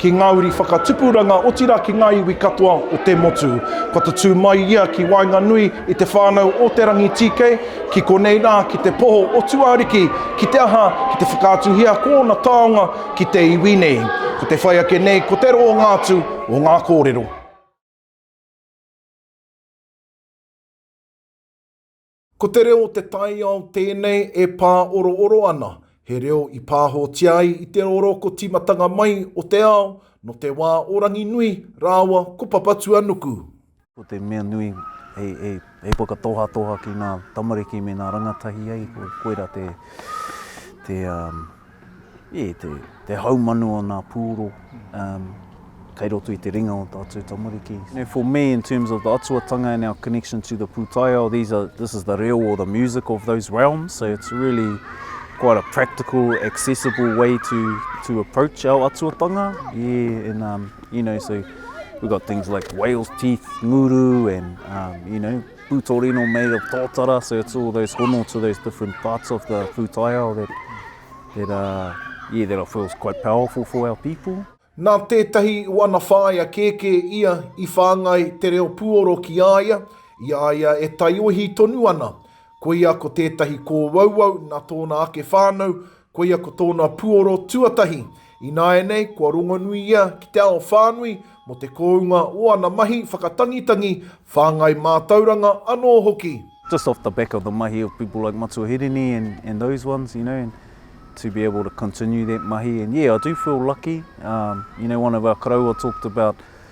ki ngā uri whakatupuranga, otirā ki ngā iwi katoa o te motu. Kua tatū mai ia ki waenganui i te whānau o Te Rangitīkei, ki konei rā, ki te poho o Tuariki, ki te aha, ki te whakaatuhia ko ōna taonga ki te iwi nei. Ko te whai ake nei, ko te roanga atu o ngā kōrero. Ko te reo o te taiao tēnei e pāorooro ana, he reo i pāhotia ai i te rōrōko tīmatanga mai o te ao nō te wā o Ranginui rāua ko Papatuanuku. Ko te mea nui e whakatohatoha ki ngā tamariki me ngā rangatahi, koirā te. E, te, te haumanu o nā pūro, um, kei roto i te ringa o tā tū tamariki. You for me, in terms of the Atuatanga and our connection to the pūtaiao, these are, this is the reo or the music of those realms, so it's really quite a practical, accessible way to, to approach our Atuatanga. Yeah, and, um, you know, so we've got things like whale's teeth, nguru, and, um, you know, Putorino made of totara, so it's all those hono to those different parts of the pūtaiao that, that, uh, yeah, that I feel is quite powerful for our people. Nā tētahi o ana whāea kēkē ia i whāngai te reo puoro ki a ia, i a ia e taiohi tonu ana. Koia ko tētahi kōuauau nā tōna ake whānau, Koia ko tōna puoro tuatahi. Ināianei, kua rongonui ia ki te ao whānui mō te kounga o ana mahi whakatangitangi, whāngai mātauranga anō hoki. just off the back of the mahi of people like Matua Hirini and those ones, you know, and to be able to continue that mahi and yeah, I do feel lucky, um, you know, one of our karaua talked about,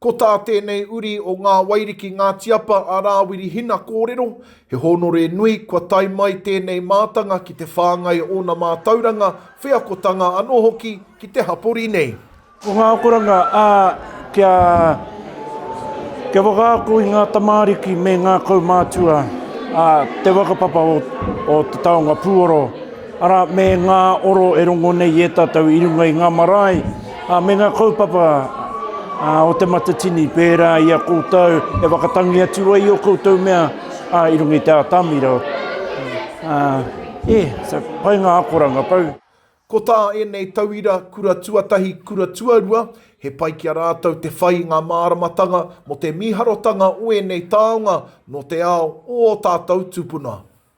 Ko tā tēnei uri o Ngā Wairiki Ngāti Apa a Rāwiri Hina kōrero, he hōnore nui kua tae mai tēnei mātanga ki te whāngai o ōna mātauranga, wheakotanga anō hoki ki te hapori nei. Ko ngā akoranga, ā, kia, kia whakaako i ngā tamāriki me ngā kaumātua, ā, te whakapapa o, o te taonga pūoro. Arā, me ngā oro e rongo nei i e tātou i runga i ngā marae, ā, me ngā kaupapa, ā, o Te Matatini, pērā i a koutou e whakatangi atu ai i ō koutou mea, ā, i runga i te atamira, ā, ē, so, pai ngā akoranga pau. Ko tā ēnei tauira kura tuatahi, kura tuarua, he pai ki a rātou te whai i ngā māramatanga mō te mīharotanga o ēnei taonga nō te ao o ō tātou tūpuna.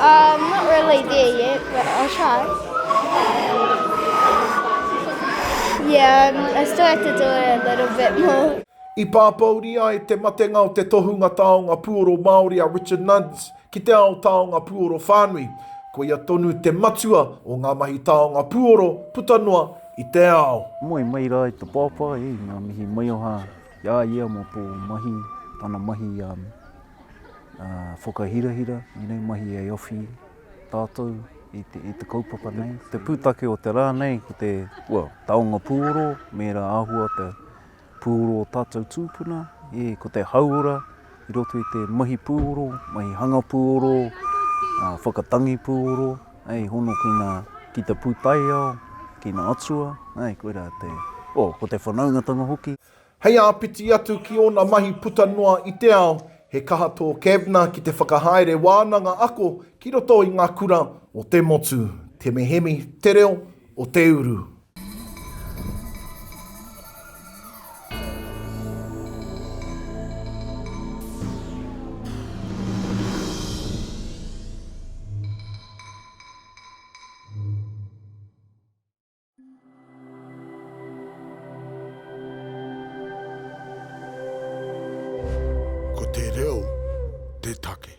I'm not really there yet, but I'll try. Yeah, um, I still have to do it a little bit more. I pāpouri ai te matenga o te tohunga taonga puoro Māori a Richard Nunns ki te ao taonga puoro whānui, koia tonu te matua o ngā mahi taonga puoro puta noa i te ao. Moe mai rā i te pāpā, e, ngā mihi maioha i a ia mō tō mahi, tana mahi, um, whakahirahira inei mahi e awhi tātou i te, i te kaupapa nei. Te pūtake o te rā nei, ko te well, taonga pūoro, mēra āhua te pūoro o tātou tūpuna, e, ko te hauora i roto i te mahi pūoro, mahi hanga pūoro, a, whakatangi pūoro, ei, hono ki, ngā, ki te pūtaiao, ki ngā atua, ei, koirā te, o, ko te whanaungatanga hoki. Hei āpiti atu ki ōna mahi puta noa i te ao, he kaha tō Kavner ki te whakahaere wānanga ako ki roto i ngā kura o te motu, te mehemi, te reo, o te uru. Ko te reo te take.